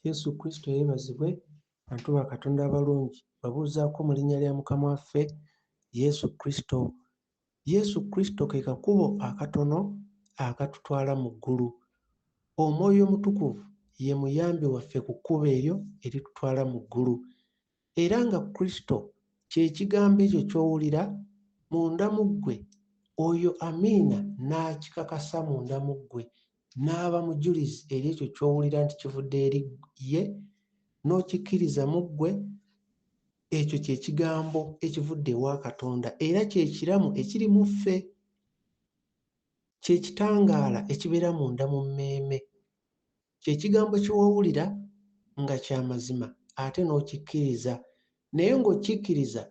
yesu kristo yeebazibwe bantu ba katonda abalungi babuuzaako mu linnya lya mukama waffe yesu kristo yesu kristo ke kakubo akatono akatutwala mu ggulu omwoyo omutukuvu ye muyambi waffe ku kkubo eryo eritutwala mu ggulu Era nga Kristo ky'Ekigambo ekyo ky'owulira munda mu ggwe, oyo Amiina n'akikakasa munda mu ggwe, n'aba mujulizi eri ekyo ky'owulira nti kivudde eri Ye, n'okikkiriza mu ggwe, ekyo kye Kigambo ekivudde ewa Katonda, era kye Kiramu ekiri mu ffe. Kye Kitangaala ekibeera munda mu mmeeme. kye kigambo kye wawulira nga kya mazima ate n'okikkiriza naye ng'okikkiriza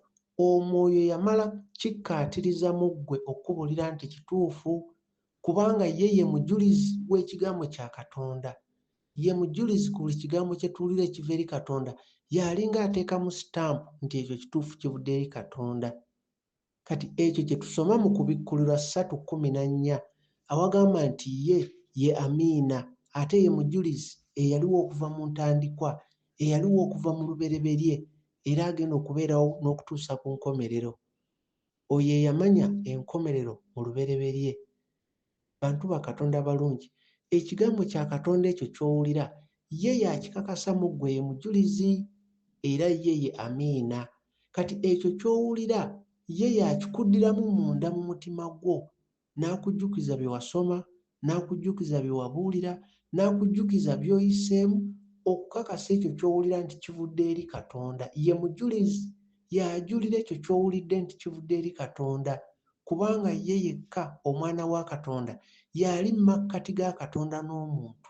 omwoyo yamala kikkaatiriza mu ggwe okukubuulira nti kituufu kubanga ye ye mujulizi w'ekigambo kya katonda ye mujulizi ku buli kigambo kye tuwulira ekiva eri katonda y'alinga ateekamu sitampu nti ekyo kituufu kivudde eri katonda Kati ekyo kye tusoma mu Kubikkulirwa ssatu kkumi na nnya, awagamba nti Ye ye Amiina, ate Ye Mujulizi eyaliwo okuva mu ntandikwa, eyaliwo okuva mu lubereberye, era agenda okubeerawo n'okutuusa ku nkomerero. Oyo eyamanya enkomerero mu lubereberye. bantu ba Katonda balungi. Ekigambo kya Katonda ekyo ky'owulira, Ye y'akikakasa mu ggwe, Ye Mujulizi, era Ye ye Amiina. Kati ekyo ky'owulira, Ye y'akikuddiramu munda mu mutima gwo, n'akujjukiza bye wasoma, n'akujjukiza bye wabuulira, n'akujjukiza by'oyiseemu, okukakasa ekyo ky'owulira nti kivudde eri Katonda. Ye Mujulizi. Y'ajulira ekyo ky'owulidde nti kivudde eri Katonda. kubanga ye yekka Omwana wa Katonda y'ali mu makkati ga Katonda n'omuntu,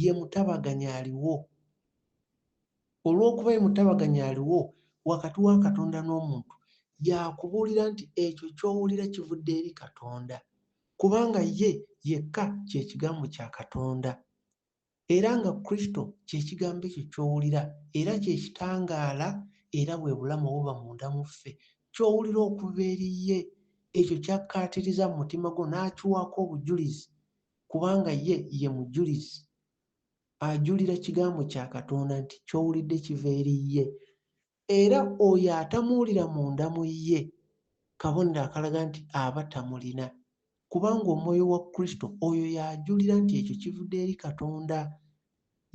ye mutabaganya aliwo. Olw'okuba ye mutabaganya aliwo wakati wa Katonda n'omuntu, y'akubuulira nti ekyo ky'owulira kivudde eri Katonda, kubanga ye yekka kye Kigambo kya Katonda. Era nga Kristo kye Kigambo ekyo ky'owulira, era kye Kitangaala, era bwe Bulamu obuba munda mu ffe, ky'owulira okuva eri Ye, ekyo ky'akkaatiriza mu mutima gwo n'akiwaako obujulizi, kubanga Ye ye Mujulizi. Ajulira Kigambo kya Katonda nti ky'owulidde kiva eri Ye. Era oyo atamuwulira munda mu ye, kabonero akalaga nti aba tamulina, kubanga Omwoyo wa Kristo oyo y'ajulira nti ekyo kivude eri Katonda.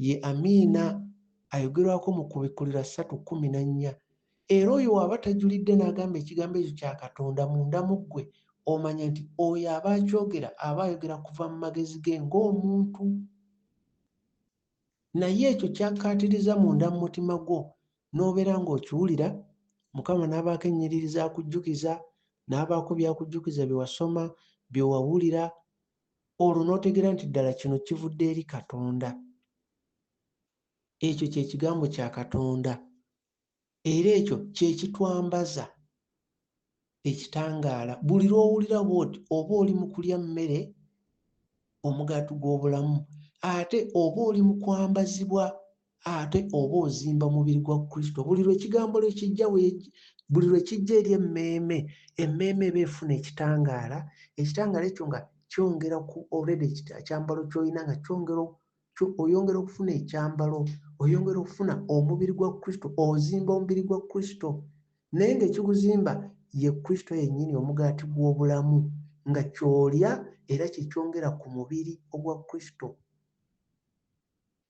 Ye Amiina ayogerwako mu Kubikkulirwa ssatu kkumi na nnya. Era oyo w'aba tajulidde n'agamba Ekigambo ekyo kya Katonda munda mu ggwe, omanya nti oyo aba akyogera aba ayogera kuva mu magezi ge ng'omuntu. naye ekyo kyakkaatiriza munda mu mutima gwo n'obeera ng'okiwulira mukama n'abaako ennyiriri z'akujjukiza n'abaako by'akujjukiza bye wasoma bye wawulira olwo n'otegeera nti ddala kino kivudde eri katonda ekyo kye kigambo kya katonda Era ekyo kye kitwambaza ekitangaala. Buli lw'owulira bw'oti, oba oli mu kulya mmere, omugaati gw'obulamu, ate oba oli mu kwambazibwa, ate oba ozimba mubiri gwa Kristo. Buli lwe Kigambo lwe kijja, buli lwe kijja eri emmeeme, emmeeme eba efuna ekitangaala, ekitangaala ekyo nga kyongera ku already ekyambalo ky'olina nga kyongera kyo oyongera okufuna ekyambalo oyongera okufuna omubiri gwa kristo ozimba omubiri gwa kristo naye ngaekiguzimba ye kristo yennyini omugaati gw'obulamu nga kyolya era kyekyongera ku mubiri ogwa kristo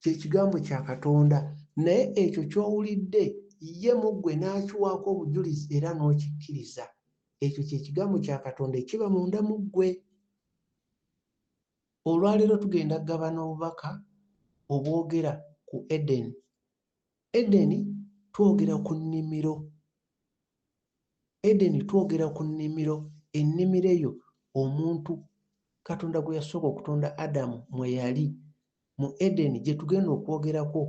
kyekigambo kya katonda naye ekyo kyowulidde ye mu ggwe n'akiwaako obujulizi era n'okikkiriza ekyo kyekigambo kya katonda ekiba munda mu ggwe Olwaleero tugenda kugabana obubaka obwogera ku Edeni. Edeni twogera ku nnimiro. Edeni twogera ku nnimiro, ennimiro eyo omuntu Katonda gwe yasooka okutonda Adamu mwe yali mu Edeni gye tugenda okwogerako.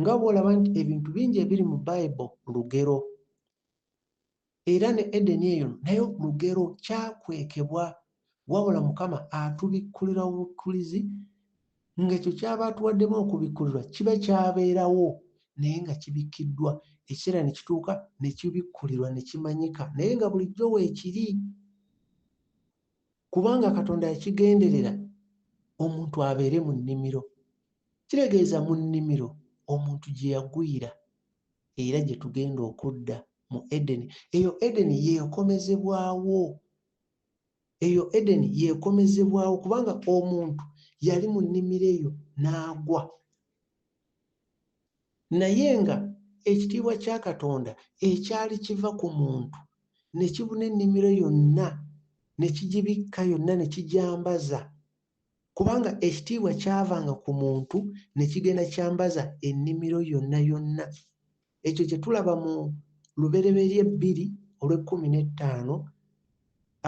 Nga bw'olaba nti ebintu bingi ebiri mu Bible lugero. Era ne Edeni eyo nayo lugero, kyakwekebwa, wabula Mukama atubikkulira obubikkulizi, nga ekyo ky'aba atuwaddemu okubikkulirwa kiba kyabeerawo naye nga kibikkiddwa, ekiseera ne kituuka ne kibikkulirwa ne kimanyika, naye nga bulijjo weekiri, kubanga Katonda yakigenderera omuntu abeere mu nnimiro. Kitegeeza mu nnimiro omuntu gye yagwira era gye tugenda okudda. mu edeni eyo edeni yeekomezebwawo eyo edeni yeekomezebwawo kubanga omuntu yali mu nnimiro eyo n'agwa naye nga ekitiibwa kya katonda ekyali kiva ku muntu ne kibuna ennimiro yonna ne kigibikka yonna ne kijambaza kubanga ekitiibwa kyavanga ku muntu ne kigenda kyambaza ennimiro yonna yonna ekyo kye tulaba mu lubereberye bbiri olw'ekkumi n'ettaano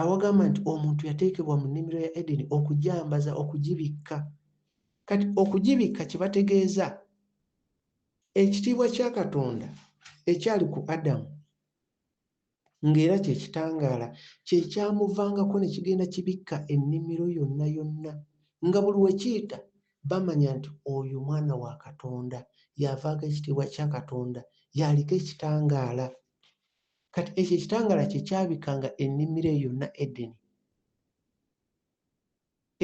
awagamba nti omuntu yateekebwa mu nnimiro ya edeni okujambaza okugibikka kati okugibikka kye bategeeza ekitiibwa kya katonda ekyali ku adamu ng'era kye kitangaala kye kyamuvangako ne kigenda kibikka ennimiro yonna yonna, nga buli we kiyita bamanya nti oyo mwana wa Katonda, y'avaako ekitiibwa kya Katonda, y'aliko ekitangaala. Kati ekyo ekitangaala kye kyabikkanga ennimiro eyo yonna, Edeni.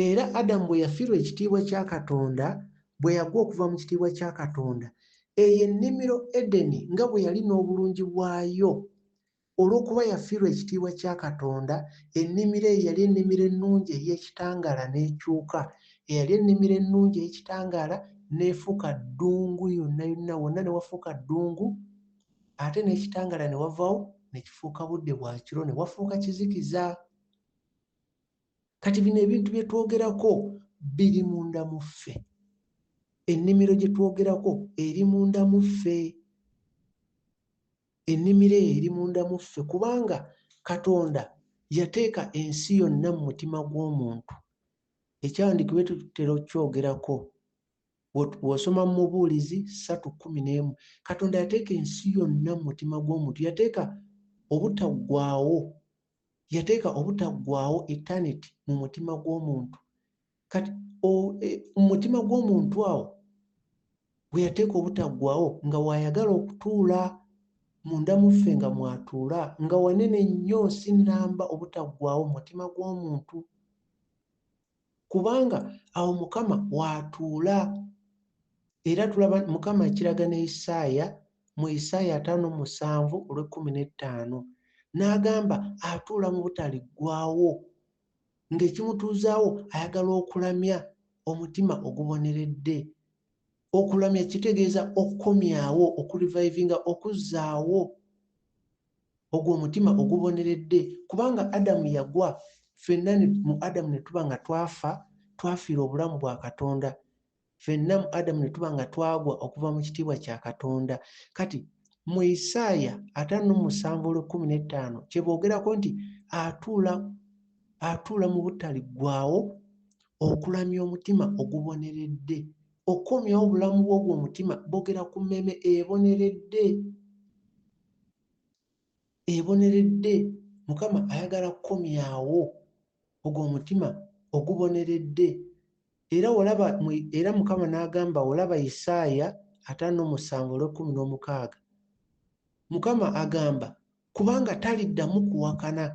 Era Adamu bwe yafirwa ekitiibwa kya Katonda, bwe yagwa okuva mu kitiibwa kya Katonda, eyo ennimiro Edeni nga bwe yali n'obulungi bwayo, olw'okuba yafirwa ekitiibwa kya Katonda, ennimiro eyo yali ennimiro ennungi ey'ekitangaala n'ekyuka, eyali ennimiro ennungi ey'ekitangaala n'efuuka ddungu yonna yonna, wonna ne wafuuka ddungu, ate n'ekitangaala ne wavawo ne kifuuka budde bwa kiro, ne wafuuka kizikiza. kati bino ebintu bye twogerako biri munda mu ffe ennimiro gye twogerako eri munda mu ffe ennimiro eyo eri munda mu ffe kubanga katonda yateeka ensi yonna mu mutima gw'omuntu ekyawandiikibwa tutera okukyogerako bw'osoma mu mubuulizi ssatu kkumi n'emu katonda yateeka ensi yonna mu mutima gw'omuntu yateeka obutaggwawo yateeka obutaggwaawo eternity mu mutima gw'omuntu kati e, mu mutima gw'omuntu awo we yateeka obutaggwaawo nga waayagala okutuula munda muffe nga mwatuula nga wanene nnyo si nnamba obutaggwaawo mu mutima gw'omuntu kubanga awo mukama waatuula era tulaba mukama ekiraga ne isaaya mu isaaya ataano musanvu olw'ekkumi n'ettaano n'agamba atuula mu butaliggwawo ng'ekimutuuzaawo ayagala okulamya omutima oguboneredde Okulamya kitegeeza okukomyawo, okulivayivinga, okuzzaawo ogwo omutima oguboneredde kubanga Adamu yagwa fenna mu Adamu ne tuba nga twafa twafiira obulamu bwa Katonda fenna mu Adamu ne tuba nga twagwa okuva mu kitiibwa kya Katonda kati mu Isaaya ataano musanvu olw'ekkumi n'ettaano kye boogerako nti atuula atuula mu butaliggwawo okulamya omutima oguboneredde okukomyawo obulamu bw'ogwo omutima bogera ku mmeeme eboneredde eboneredde mukama ayagala kukomyawo ogwo omutima oguboneredde era olaba era mukama n'agamba olaba isaaya ataano omusanvu olw'ekkumi n'omukaaga mukama agamba kubanga taliddamu kuwakana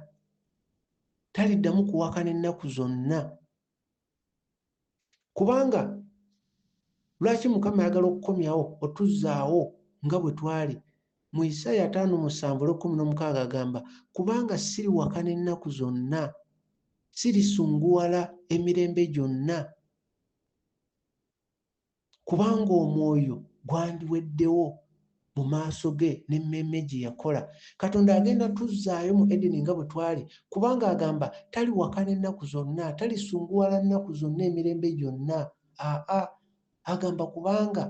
taliddamu kuwakana ennaku zonna kubanga lwaki mukama ayagala okukomyawo otuzzaawo nga bwe twali mu isaaya ataano musanvu olwekumi n'omukaaga agamba kubanga siriwakana ennaku zonna sirisunguwala emirembe gyonna kubanga omwoyo gwandiweddewo mu maaso ge n'emmeeme gye yakola katonda agenda tuzzaayo mu edeni nga bwe twali kubanga agamba tali wakana ennaku zonna talisunguwala nnaku zonna emirembe gyonna aa agamba kubanga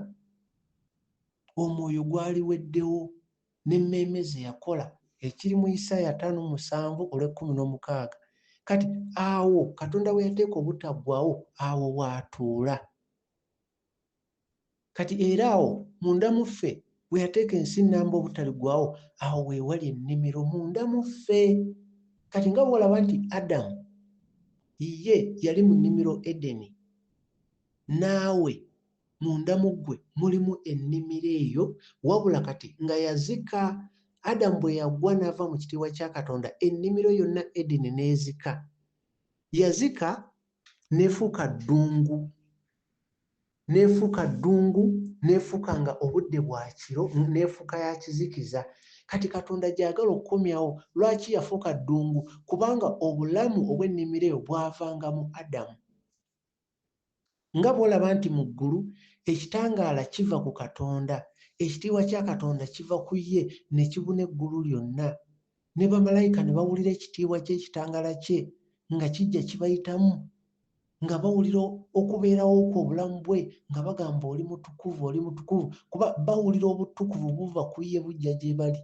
omwoyo gwaliweddewo n'emmeeme ze yakola ekiri mu isaaya ataano mu musanvu olw'ekkumi n'omukaaga kati awo katonda we yateeka obutaggwawo awo waatuula kati era awo munda mu ffe we yateeka ensi nnamba obutaligwawo awo weewali ennimiro munda mu ffe kati nga bwolaba nti adamu ye yali mu nnimiro edeni naawe munda mu ggwe mulimu ennimiro eyo wabula kati nga yazika adamu bwe yagwa n'ava mu kitiibwa kya katonda ennimiro yonna edeni n'ezika yazika n'efuuka ddungu n'efuuka ddungu n'efuuka nga obudde bwa kiro n'efuuka ya kizikiza kati katonda gyagala okukomyawo lwaki yafuuka ddungu kubanga obulamu obw'ennimiro eyo bwavanga mu adamu nga bw'olaba nti mu ggulu ekitangaala kiva ku Katonda, ekitiibwa kya Katonda kiva ku ye ne kibuna eggulu lyonna, ne bamalayika ne bawulira ekitiibwa ky'ekitangaala kye nga kijja kibayitamu, nga bawulira okubeerawo kwe, obulamu bwe, nga bagamba oli mutukuvu, oli mutukuvu, kuba bawulira obutukuvu buva ku ye bujja gye bali.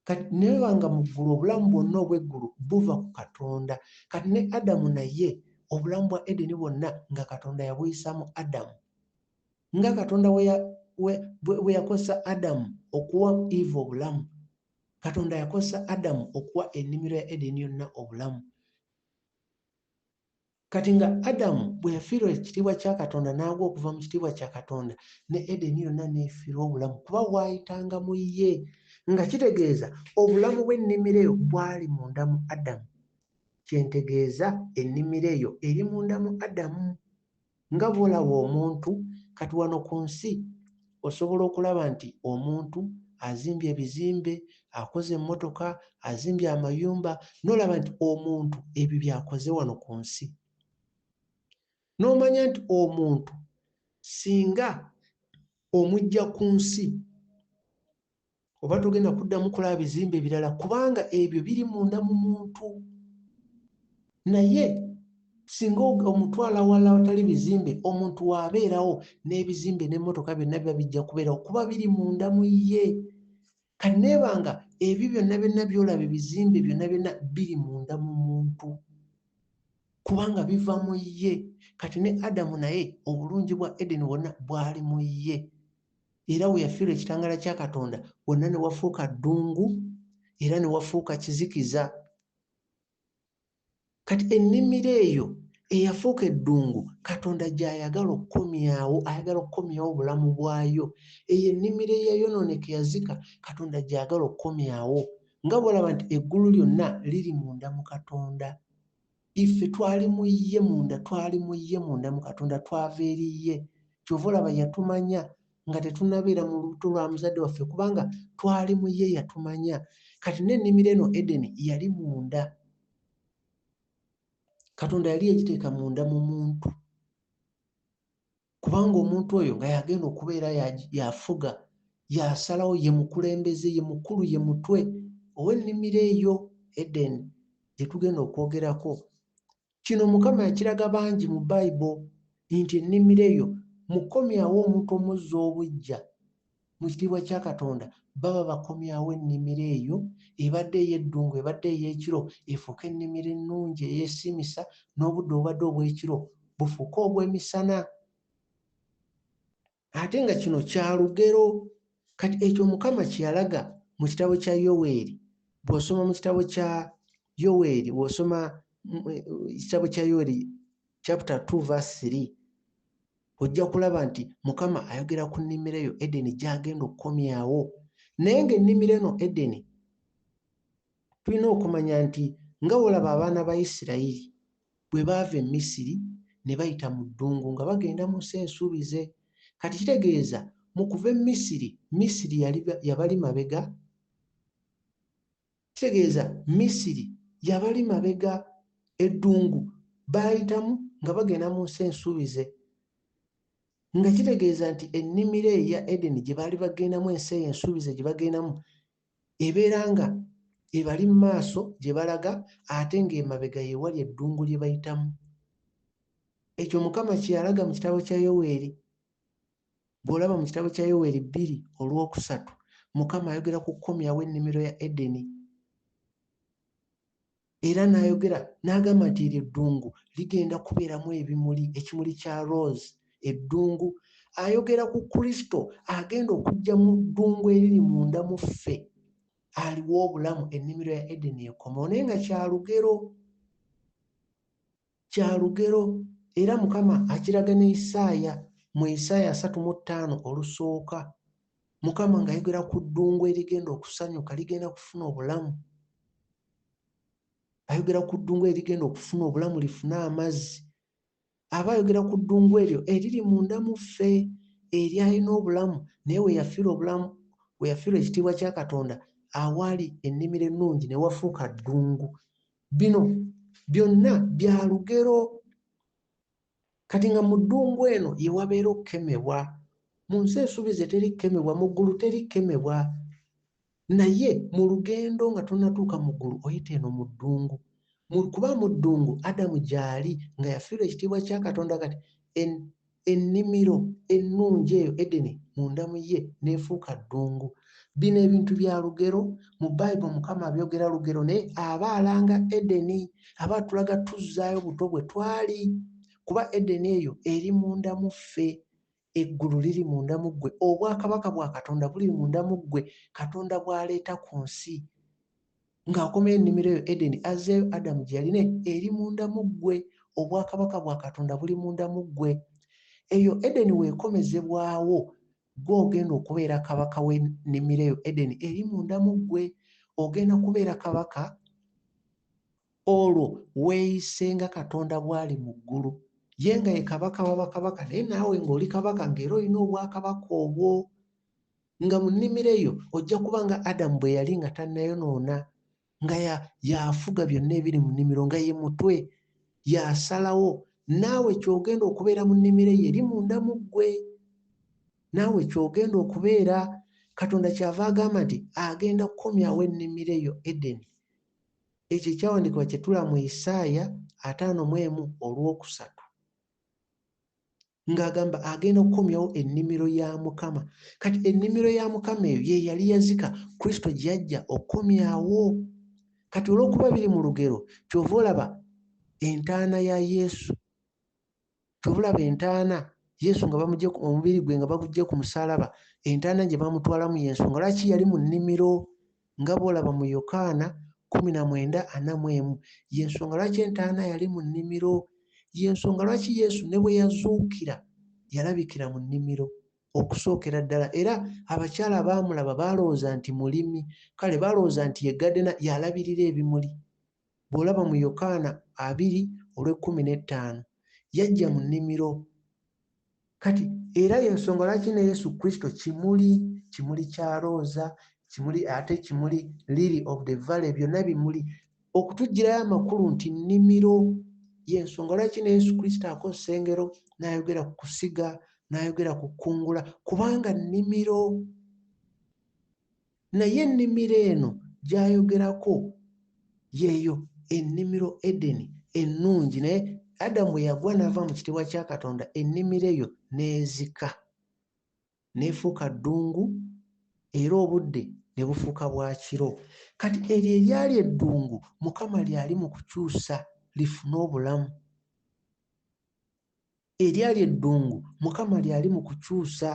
kati neba nga mu ggulu obulamu bwonna obw'eggulu buva ku katonda kati ne adamu naye obulamu bwa edeni bwonna nga katonda yabuyisaamu adamu nga katonda bwe yakozesa adamu okuwa eva obulamu katonda yakozesa adamu okuwa ennimiro ya edeni yonna obulamu Kati nga Adamu bwe yafiirwa ekitiibwa kya Katonda n'agwa okuva mu kitiibwa kya Katonda, ne Edeni yonna n'efiirwa obulamu kuba waayitanga mu ye. Nga kitegeeza obulamu bw'ennimiro eyo bwali munda mu Adamu. Kye ntegeeza, ennimiro eyo eri munda mu Adamu. nga bwolaba omuntu kati wano ku nsi osobola okulaba nti omuntu azimbye ebizimbe akoze emmotoka azimbye amayumba nolaba nti omuntu ebyo byakoze wano ku nsi nomanya nti omuntu singa omujja ku nsi oba togenda kuddamu kulaba bizimbe ebirala kubanga ebyo biri munda mu muntu naye singa omutwala wala watali bizimbe omuntu waabeerawo n'ebizimbe n'emmotoka byonna biba bijja kubeerawo kuba biri munda mu ye kanneeba nga ebyo byonna byonna byolaba ebizimbe byonna byonna biri munda mu muntu kubanga biva mu ye kati ne adamu naye obulungi bwa edeni bwonna bwali mu ye era we yafiirwa ekitangaala kya katonda wonna ne wafuuka ddungu era ne wafuuka kizikiza kati ennimiro eyo eyafuuka eddungu katonda gy'ayagala okukomyawo ayagala okukomyawo obulamu bwayo eyo ennimiro eyayonooneka yazika katonda gy'agala okukomyawo nga bwolaba nti eggulu lyonna liri munda mu katonda Iffe twali mu Ye munda, twali mu Ye munda, mu Katonda, twava eri Ye. Kyova olaba Yatumanya nga tetunnabeera mu lubuto lwa muzadde waffe, kubanga twali mu Ye. Yatumanya. Kati, n'ennimiro eno, Edeni, yali munda. Katonda yali yagiteeka munda mu muntu. kubanga omuntu oyo nga yagenda okubeera yafuga yasalawo ye mukulembeze ye mukulu ye mutwe ow'ennimiro eyo edeni gye tugenda okwogerako kino mukama yakiraga bangi mu bayibo nti ennimiro eyo mukomyawo omuntu omuzza obuggya mu kitiibwa kya Katonda baba bakomyawo ennimiro eyo ebadde ey'eddungu, ebadde ey'ekiro efuuke ennimiro ennungi eyeesiimisa, n'obudde obubadde obw'ekiro bufuuke obw'emisana. Ate nga kino kya lugero. Kati ekyo Mukama kye yalaga mu kitabo kya Yoweeri, bw'osoma mu kitabo kya Yoweeri, bw'osoma ekitabo kya Yoweeri chapter 2 verse 3, ojja kulaba nti mukama ayogera ku nnimiro eyo edeni gyagenda okukomyawo naye nga ennimiro eno edeni tulina okumanya nti nga wolaba abaana ba isirayiri bwe baava e misiri ne bayita mu ddungu nga bagenda mu nsi ensuubize kati kitegeeza mu kuva e misiri misiri yabali mabega Kitegeeza Misiri yabali mabega, eddungu baayitamu nga bagenda mu nsi ensuubize, nga kitegeeza nti ennimiro eyo eya Edeni gye baali bagendamu, ensi eyo ensuubize gye bagendamu ebeera nga ebali mu maaso gye balaga ate ng'emabega ye wali eddungu lye bayitamu. Ekyo Mukama kye yalaga mu kitabo kya Yoweeri bw'olaba mu kitabo kya yoweri bbiri olwokusatu mukama ayogera ku kukomyawo ennimiro ya edeni era n'ayogera n'agamba nti eryo eddungu ligenda kubeeramu ebimuli ekimuli kya rose eddungu ayogera ku kristo agenda okujja mu ddungu eriri munda mu ffe aliwo obulamu ennimiro ya edeni ekomawo naye nga kyalugero Kya lugero, era Mukama akiraga ne Isaaya mu Isaaya asatu mu ttaano olusooka, Mukama ng'ayogera ku ddungu erigenda okusanyuka, ligenda kufuna obulamu. Ayogera ku ddungu erigenda okufuna obulamu, lifune amazzi. Aba ayogera ku ddungu eryo eriri munda mu ffe, eryalina obulamu naye we yafiirwa obulamu, we yafiirwa ekitiibwa kya Katonda, awaali ennimiro ennungi ne wafuuka ddungu. bino byonna bya lugero kati nga mu ddungu eno ye wabeera okukemebwa mu nsi esuubize teri kukemebwa mu ggulu teri kukemebwa naye mu lugendo nga tonatuuka mu ggulu oyita eno mu ddungu kuba mu ddungu adamu gyali nga yafiirwa ekitiibwa kya katonda kati Ennimiro ennungi eyo Edeni munda mu ye n'efuuka ddungu. Bino ebintu bya lugero. Mu Bible Mukama abyogera lugero naye aba alanga Edeni. Aba atulaga tuzzaayo buto bwe twali kuba Edeni eyo eri munda mu ffe. Eggulu liri munda mu ggwe. Obwakabaka bwa Katonda buli munda mu ggwe Katonda bw'aleeta ku nsi. ng'akomayo ennimiro eyo Edeni, azzeeyo Adamu gye yalina eri munda mu ggwe. Obwakabaka bwa Katonda buli munda mu ggwe. Eyo Edeni weekomezebwawo, ggwe ogenda okubeera kabaka w'ennimiro eyo Edeni eri munda mu ggwe. Ogenda kubeera kabaka olwo weeyise nga Katonda bw'ali mu ggulu. Ye nga ye kabaka wa bakabaka, naye naawe ng'oli kabaka ng'era olina obwakabaka obwo. nga mu nnimiro eyo ojja kuba nga adamu bwe yali nga tannayonoona nga yafuga byonna ebiri mu nnimiro nga ye mutwe yasalawo naawe kyogenda okubeera mu nnimiro eyo eri munda mu ggwe naawe kyogenda okubeera katonda kyava agamba nti agenda kukomyawo ennimiro eyo edeni ekyo ekyawandikibwa kyetula mu isaaya ataano mu emu olwokusatu ng'agamba agenda okukomyawo ennimiro ya mukama kati ennimiro ya mukama eyo ye yali yazika kristo gyajja okukomyawo kati olw'okuba biri mu lugero kyova olaba entaana ya yesu kyova olaba entaana yesu nga bamugye omubiri gwe nga bagujje ku musalaba entaana gye bamutwalamu yensonga lwaki yali mu nnimiro nga bw'olaba mu Yokaana kkumi na mwenda ana mu emu. Ye nsonga lwaki entaana yali mu nnimiro. Ye nsonga lwaki Yesu ne bwe yazuukira yalabikira mu nnimiro okusookera ddala, era abakyala abaamulaba baalowooza nti mulimi, kale baalowooza nti ye gadena, y'alabirira ebimuli. Bw'olaba mu Yokaana abiri olw'ekkumi n'ettaano, Yajja mu nnimiro. Kati, era y'ensonga lwaki ne Yesu Kristo kimuli, kimuli kya looza, kimuli, ate kimuli, lily of the valley, byonna bimuli, okutuggyirayo amakulu nti nnimiro. Y'ensonga lwaki ne Yesu Kristo akozesa engero n'ayogera ku kusiga, n'ayogera ku kkungula, kubanga nnimiro. Naye ennimiro eno gy'ayogerako y'eyo ennimiro Edeni ennungi, naye Adamu bwe yagwa n'ava mu kitiibwa kya Katonda, ennimiro eyo n'ezika, n'efuuka ddungu, era obudde ne bufuuka bwa kiro. Kati eryo eryali eddungu Mukama lyali mu kukyusa lifune obulamu. Eryali eddungu, Mukama lyali mu kukyusa.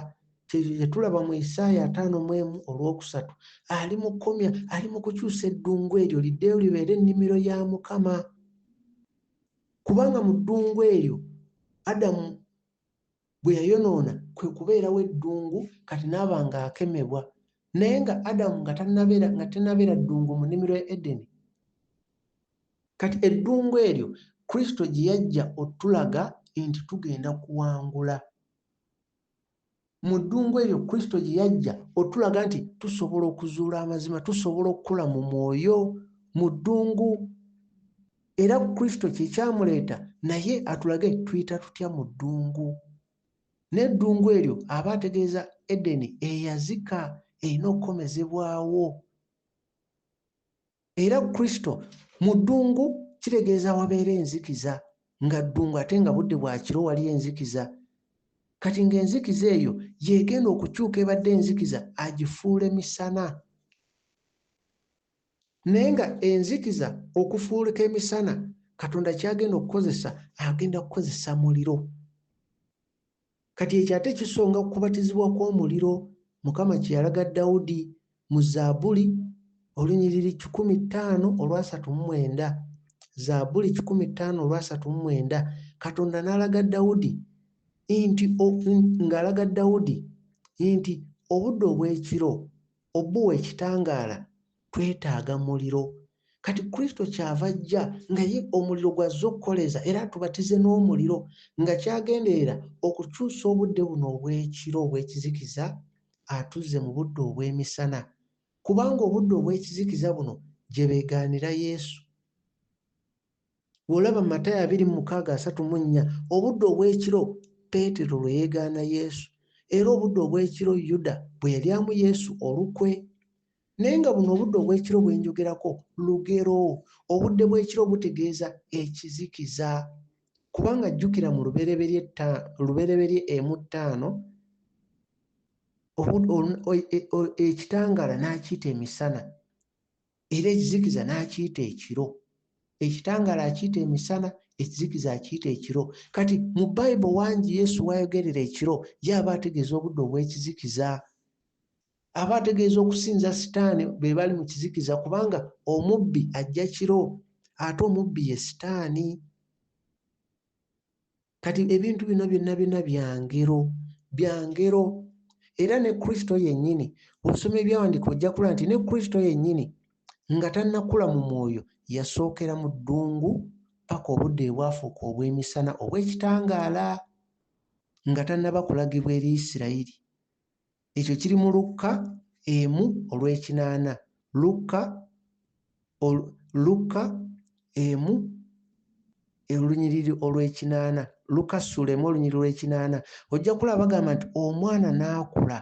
Kyekyo kye tulaba mu Isaaya ataano mu emu olw'okusatu. Ali mu kukomya, ali mu kukyusa eddungu eryo liddeyo libeere ennimiro ya Mukama. Kubanga mu ddungu eryo Adamu bwe yayonoona kwe kubeerawo eddungu kati n'aba ng'akemebwa. Naye nga Adamu nga tannabeera nga tennabeera ddungu mu nnimiro ya Edeni, Kati eddungu eryo Kristo gye yajja otulaga nti tugenda kuwangula. Mu ddungu eryo Kristo gye yajja otulaga nti tusobola okuzuula amazima, tusobola okukula mu mwoyo mu ddungu. Era Kristo kye kyamuleeta naye atulage tuyita tutya mu ddungu. N'eddungu eryo aba ategeeza Edeni eyazika erina okukomezebwawo. era kristo mu ddungu kitegeeza wabeera enzikiza nga ddungu ate nga budde bwa kiro wali enzikiza kati ng'enzikiza eyo yegenda okukyuka ebadde enzikiza agifuule misana naye nga enzikiza okufuulika emisana katonda kyagenda okukozesa agenda kukozesa muliro Kati ekyo ate kisonga ku kubatizibwa kw'omuliro Mukama kye yalaga Dawudi mu Zaabuli, olunyiriri kikumi ttaano olwasatu mu mwenda. Zaabuli kikumi ttaano olwasatu mu mwenda, Katonda n'alaga Dawudi nti ng'alaga Dawudi nti obudde obw'ekiro obuwa ekitangaala twetaaga muliro kati kristo kyava ajja nga ye omuliro gwazze okukoleza era atubatize n'omuliro nga kyagenderera okukyusa obudde buno obw'ekiro obw'ekizikiza atuzze mu budde obw'emisana kubanga obudde obw'ekizikiza buno gye beegaanira yesu bw'olaba mu matayo abiri mu mukaaga asatu mu nnya obudde obw'ekiro peetero lwe yeegaana yesu era obudde obw'ekiro yuda bwe yalyamu yesu olukwe Naye nga buno obudde obw'ekiro bwe njogerako lugero. Obudde bw'ekiro butegeeza ekizikiza. Kubanga jjukira mu Lubereberye tta, Lubereberye emu ttaano, obu, ol, o, e, o, ekitangaala n'akiyita emisana era ekizikiza n'akiyita ekiro. Ekitangaala akiyita emisana, ekizikiza akiyita ekiro. Kati mu Bayibo wangi Yesu w'ayogerera ekiro ye aba ategeeza obudde obw'ekizikiza. Aba ategeeza okusinza Sitaane be bali mu kizikiza kubanga omubbi ajja kiro ate omubbi ye Sitaani. Kati ebintu bino byonna byonna bya ngero, bya ngero. Era ne Kristo yennyini, bw'osoma ebyawandiika ojja kulaba nti ne Kristo yennyini nga tannakula mu mwoyo yasookera mu ddungu paka obudde bwe bwafuuka obw'emisana obw'ekitangaala nga tannaba kulagibwa eri Isirayiri. Ekyo kiri mu Lukka emu olw'ekinaana. Lukka, Lukka emu olunyiriri olw'ekinaana. Lukka ssuula emu olunyiriri olw'ekinaana. Ojja kulaba bagamba nti omwana n'akula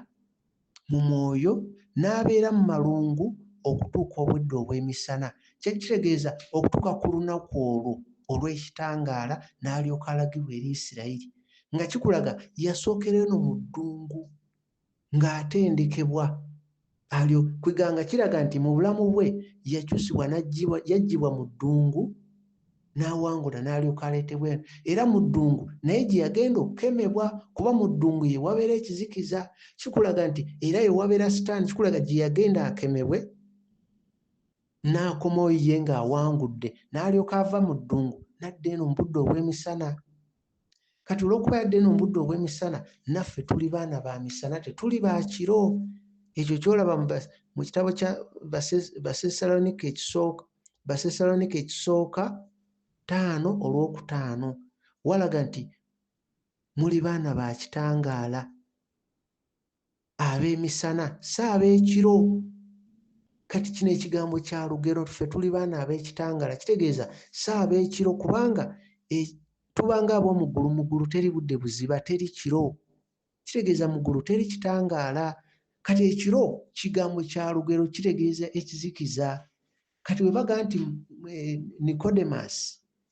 mu mwoyo n'abeera mu malungu okutuuka obwedda obw'emisana. Kyali kitegeeza okutuuka ku lunaku olwo olw'ekitangaala n'alyoka alagibwa eri Isirayiri. nga kikulaga yasookera eno mu ddungu ng'atendekebwa alyo kweganga kiraga nti mu bulamu bwe yakyusibwa yaggyibwa mu ddungu n'awangula n'alyoka aleetebwa eno era mu ddungu naye gye yagenda okukemebwa kuba mu ddungu ye wabeera ekizikiza kikulaga nti era ye wabeera sitaani kikulaga gye yagenda akemebwe n'akomawo ye ng'awangudde n'alyoka ava mu ddungu nadda eno mu budde obw'emisana kati olwokuba yadde no mubudde obwemisana naffe tuli baana ba misana tetuli bakiro ekyo kyolaba mu kitabo kya basesalonika ekisooka basesalonika ekisooka taano olwokutaano walaga nti muli baana ba kitangaala ab'emisana si ab'ekiro kati kino ekigambo kya lugero ffe tuli baana ab'ekitangala kitegeeza si ab'ekiro kubanga e, tubanga ab'omuggulu muggulu teri budde buziba teri kiro kitegeeza muggulu teri kitangaala kati ekiro kigambo kya lugero kitegeeza ekizikiza kati bwe baga nti eh, nikodemus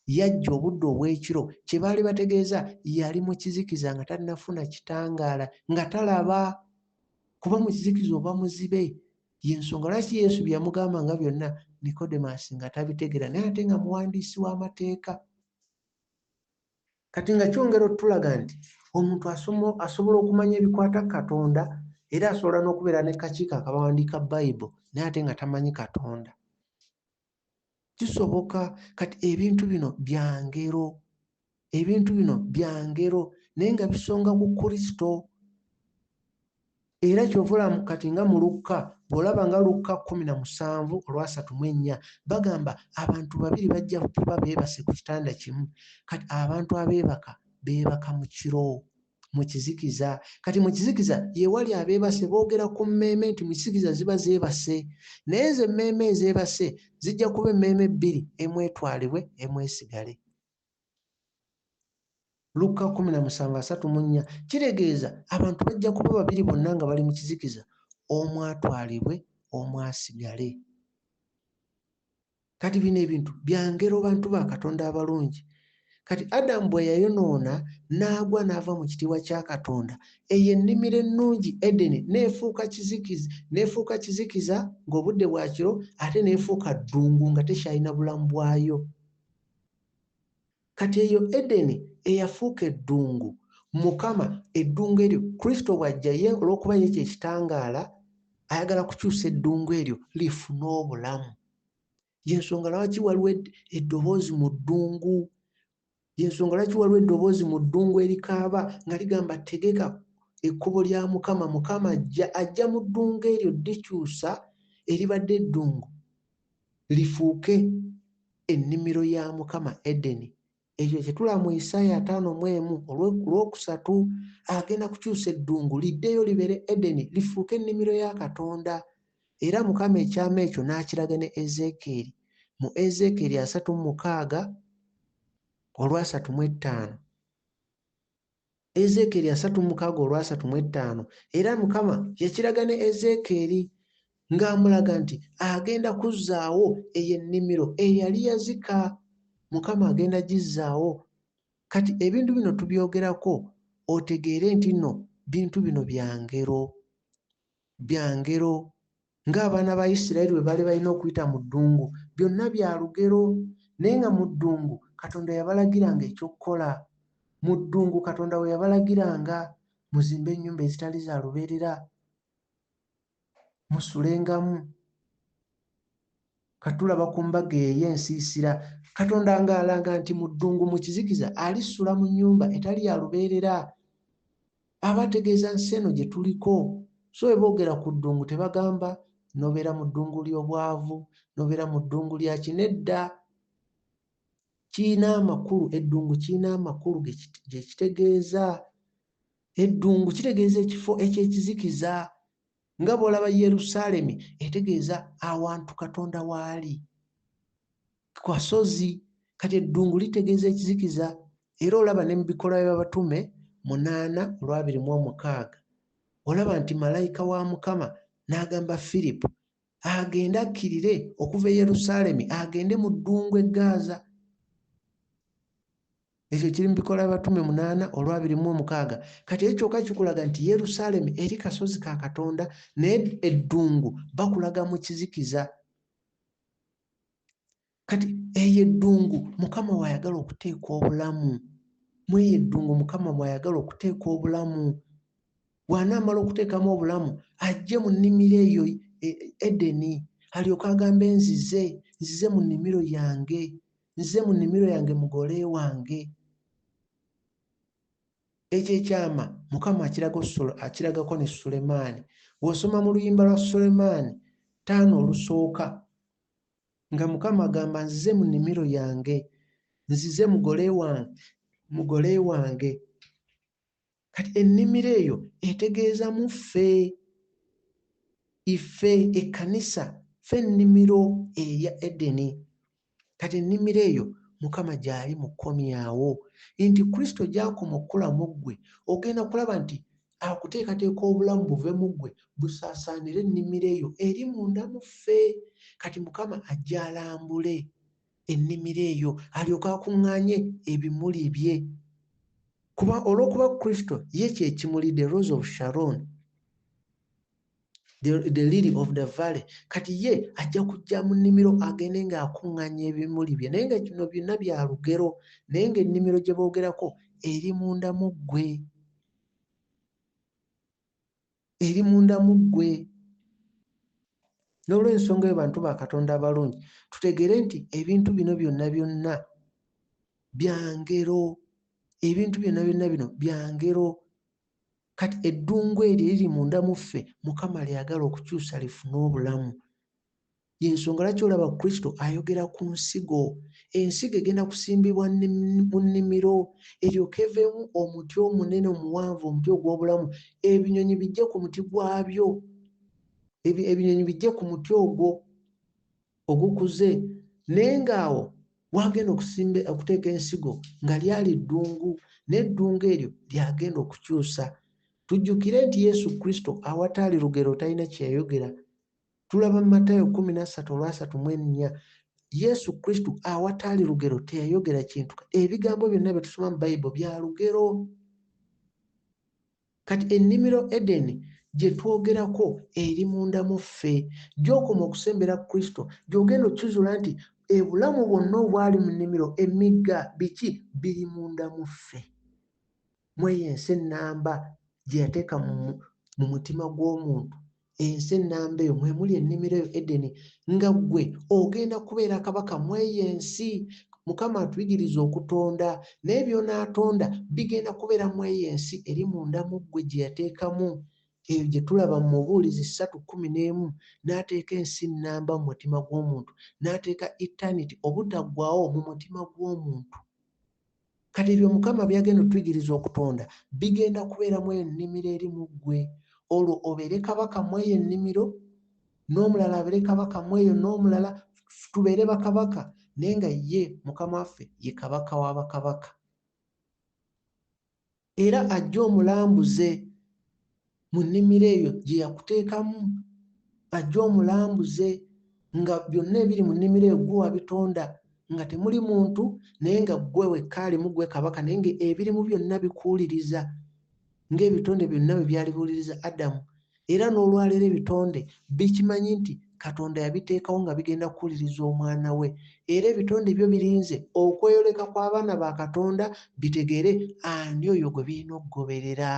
yajja obudde obw'ekiro kye baali bategeeza yali mu kizikiza nga tannafuna kitangaala nga talaba kuba mu kizikiza oba muzibe yensonga lwaki yesu bye yamugamba nga byonna nikodemus nga tabitegeera naye ate nga muwandiisi w'amateeka Kati nga kyongera otulaga nti omuntu asobola okumanya ebikwata ku Katonda era asobola n'okubeera ne kakiiko akabawandiika Bayibo naye ate nga tamanyi Katonda. Kisoboka kati ebintu bino bya ngero, ebintu bino bya ngero naye nga bisonga ku Kristo. Era kyova olaba kati nga mu Lukka, bw'olaba nga Lukka kkumi na musanvu olwasatu mu ennya, bagamba abantu babiri bajja kuba beebase ku kitanda kimu. Kati abantu abeebaka beebaka mu kiro, mu kizikiza. Kati mu kizikiza ye wali abeebase boogera ku mmeeme nti mu kizikiza ziba zeebase. Naye ezo emmeeme ezeebase zijja kuba emmeeme bbiri, emu etwalibwe, emu esigale. lukka 17:34 kitegeeza abantu bajja kuba babiri bonna nga bali mu kizikiza omu atwalibwe omu asigale kati bino ebintu byangero bantu ba katonda abalungi kati adamu bwe yayonoona n'agwa n'ava mu kitiibwa kya katonda eyo ennimiro ennungi edeni neefuuka kizikiza neefuuka kizikiza ng'obudde bwakiro ate neefuuka ddungu nga tekyalina bulamu bwayo Kati eyo Edeni eyafuuka eddungu, Mukama, eddungu eryo, Kristo bw'ajja, Ye, olw'okuba Ye kye Kitangaala, ayagala kukyusa eddungu eryo lifune Obulamu. Y'ensonga lwaki waliwo ed, eddoboozi mu ddungu. Y'ensonga lwaki waliwo eddoboozi mu ddungu erikaaba, nga ligamba, Tegeka ekkubo lya Mukama, Mukama ajja. Ajja mu ddungu eryo, ddikyusa, eribadde eddungu. lifuuke ennimiro ya Mukama Edeni. Ekyo kye tulaba mu Isaaya ataano mu emu olw'okusatu agenda kukyusa eddungu liddeyo libeere Edeni lifuuke ennimiro ya Katonda. Era Mukama ekyama ekyo n'akiraga ne Ezeekyeri mu Ezeekyeri asatu mu mukaaga olwasatu mu ettaano. Ezeekyeri asatu mu mukaaga olw'asatu mu ettaano, era Mukama yakiraga ne Ezeekyeri ng'amulaga nti agenda kuzzaawo eyo ennimiro eyali yazika. Mukama agenda kugizzaawo. Kati ebintu bino tubyogerako otegeere nti no bintu bino bya ngero. bya ngero ng'abaana ba Isirayiri bwe baali balina okuyita mu ddungu. Byonna bya lugero. Naye nga mu ddungu Katonda yabalagiranga eky'okukola. Mu ddungu Katonda we yabalagiranga, Muzimbe ennyumba ezitali za lubeerera, musulengamu, Katulaba ku mbaga eyo ensiisira, Katonda nga alaga nti mu ddungu mu kizikiza alisula mu nnyumba etali ya lubeerera. Aba ategeeza nsi eno gye tuliko. So bwe boogera ku ddungu tebagamba, Nobeera mu ddungu ly'obwavu, nobeera mu ddungu lya ki. Nedda. Kirina amakulu, eddungu kirina amakulu gye kitegeeza. Eddungu kitegeeza ekifo eky'ekizikiza, nga bw'olaba yerusaalemi etegeeza awantu katonda waali kwasozi kati eddungu litegeeza ekizikiza era olaba ne mu bikola by'abatume munaana olwabiri mu omukaaga olaba nti malayika wa mukama n'agamba firipo agende akkirire okuva e yerusaalemi agende mu ddungu eggaaza Ekyo kiri mu bikola abatume munaana olwabiri mu omukaaga. Kati ekyo kyoka kikulaga nti Yerusaalemi eri kasozi ka Katonda naye eddungu bakulaga mu kizikiza. Kati eyo eddungu Mukama w'ayagala okuteeka obulamu. Mu eyo eddungu Mukama mw'ayagala okuteeka obulamu. bw'anaamala okuteekamu obulamu ajje mu nnimiro eyo e, edeni alyoke agambe nzize nzize mu nnimiro yange nzize mu nnimiro yange mugole wange ekyo ekyama mukama akiragako ne sulemaani bw'osoma mu luyimba lwa sulemaani taano olusooka nga mukama agamba nzize mu nnimiro yange nzize mugole wange mugole wange kati ennimiro eyo etegeeza mu ffe ife ekkanisa fe ennimiro eya edeni kati ennimiro eyo mukama gyali mukomyawo nti kristo gyakoma okukula mu ggwe ogenda kulaba nti akuteekateeka obulamu buve mu ggwe busaasaanire ennimiro eyo eri munda mu ffe kati mukama ajja alambule ennimiro eyo alyoke akuŋŋaanye ebimuli bye kuba olw'okuba kristo ye kyekimuli the rose of sharon the, the lily of the valley kati ye ajja kujja mu nnimiro agende ng'akuŋŋaanya ebimuli bye naye nga kino byonna bya lugero naye ng'ennimiro gye boogerako eri munda mu ggwe eri munda mu ggwe n'olwensonga eyo bantu ba katonda abalungi tutegere nti ebintu bino byonna byonna byangero ebintu byonna byonna bino byangero kati eddungu eryo eriri munda mu ffe mukama lyagala okukyusa lifune obulamu Y'ensonga lwaki olaba Kristo ayogera ku nsigo. Ensigo egenda kusimbibwa mu nnimiro, eryoke eveemu omuti omunene omuwanvu, omuti ogw'obulamu, ebinyonyi bijje ku muti gwabyo, ebinyonyi bijje ku muti ogwo ogukuze, naye ng'awo wagenda okusimba okuteeka ensigo nga lyali ddungu, n'eddungu eryo lyagenda okukyusa. Tujjukire nti Yesu Kristo awataali lugero talina kye yayogera. tulaba mu matayo kumi nassatu olwasatu mu ennya yesu kristo awataali lugero teyayogera kintu ebigambo byonna bye tusoma mu bayibuli bya lugero kati ennimiro edeni gye twogerako eri munda mu ffe gyokoma okusembera kristo gyogenda okukizuula nti ebulamu bwonna obwali mu nnimiro emigga biki biri munda mu ffe mu eyo ensi ennamba gye yateeka mu mutima gw'omuntu ensi ennamba eyo mwe muli ennimiro eyo edeni nga ggwe ogenda kubeera kabaka mu eyo ensi mukama atuyigiriza okutonda naye byonaatonda bigenda kubeera mu eyo ensi eri munda mu ggwe gye yateekamu eyo gye tulaba mu mubuulizi ssatu kumi n'emu n'ateeka ensi nnamba mu mutima gw'omuntu n'ateeka eternity obutaggwawo mu mutima gw'omuntu Kati ebyo Mukama by'agenda otuyigiriza okutonda bigenda kubeera mu eyo nnimiro eri mu ggwe, olwo obeere kabaka mu eyo ennimiro, n'omulala abeere kabaka mu eyo, n'omulala, tubeere bakabaka, naye nga ye Mukama waffe ye Kabaka wa bakabaka. Era ajje omulambuze mu nnimiro eyo gye yakuteekamu, ajje omulambuze nga byonna ebiri mu nnimiro eyo ggwe wabitonda, nga temuli muntu naye nga ggwe wekka alimu, ggwe Kabaka, naye ng'ebirimu byonna bikuwuliriza ng'ebitonde byonna bwe byali biwuliriza Adamu. Era n'olwaleero ebitonde bikimanyi nti Katonda yabiteekawo nga bigenda kuwuliriza Omwana we. Era ebitonde byo birinze okweyoleka kw'abaana ba Katonda bitegeere ani oyo gwe birina okugoberera.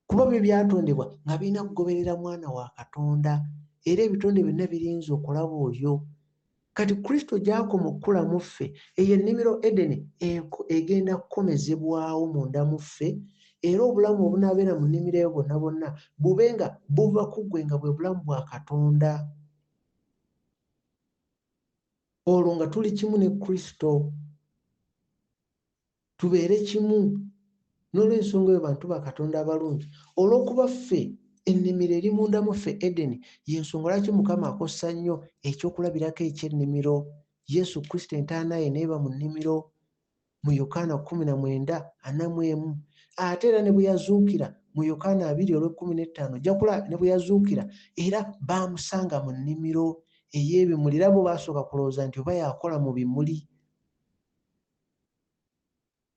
Kuba byo byatondebwa nga birina kugoberera Mwana wa Katonda. Era ebitonde byonna birinze okulaba oyo. Kati Kristo gy'akoma okukula mu ffe, eyo ennimiro Edeni egenda kukomezebwawo munda mu ffe, era obulamu obunaabeera mu nnimiro eyo bwonna bwonna bube nga buva ku ggwe nga bwe bulamu bwa Katonda. Olwo nga tuli kimu ne Kristo. tubeere kimu. N'olw'ensonga eyo bantu ba Katonda abalungi. Olw'okuba ffe, ennimiro eri munda mu ffe, Edeni, y'ensonga lwaki Mukama akozesa nnyo eky'okulabirako eky'ennimiro. Yesu Kristo entaana ye n'eba mu nnimiro, mu Yokaana kkumi na mwenda, ana mu emu. Ate era ne bwe yazuukira, mu Yokaana abiri olw'ekkumi n'ettaano, ojja kulaba, ne bwe yazuukira, era baamusanga mu nnimiro ey'ebimuli, era bo baasooka kulowooza nti oba yakola mu bimuli.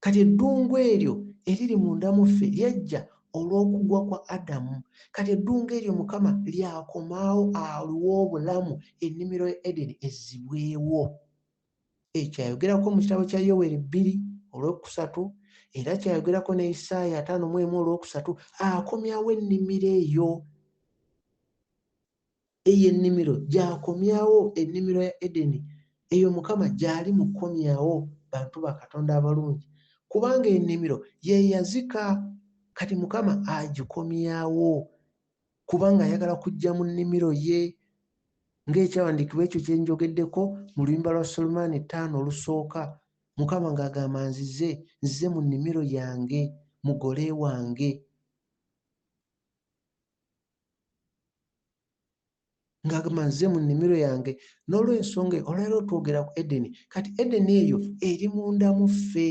kati eddungu eryo eriri munda mu ffe lyajja olw'okugwa kwa adamu kati eddungu eryo mukama lyakomaawo aliwo obulamu ennimiro ya edeni ezzibwewo ekyo ayogerako mu kitabo kya yoweri bbiri olwokusatu era kyayogerako ne isaaya ataano mu emu olwokusatu akomyawo ennimiro eyo eyo ennimiro gyakomyawo ennimiro ya Edeni eyo Mukama gyali mu kukomyawo bantu ba Katonda abalungi kubanga ennimiro ye yazika kati Mukama agikomyawo kubanga ayagala kujja mu nnimiro ye ng'ekyawandiikibwa ekyo kye njogeddeko mu luyimba lwa Sulemaani ttaano olusooka Mukama ng'agamba nzize nzize mu nnimiro yange mugole wange ngagamba nze mu nnimiro yange n'olwensonga olwaleero twogera ku edeni kati edeni eyo eri munda mu ffe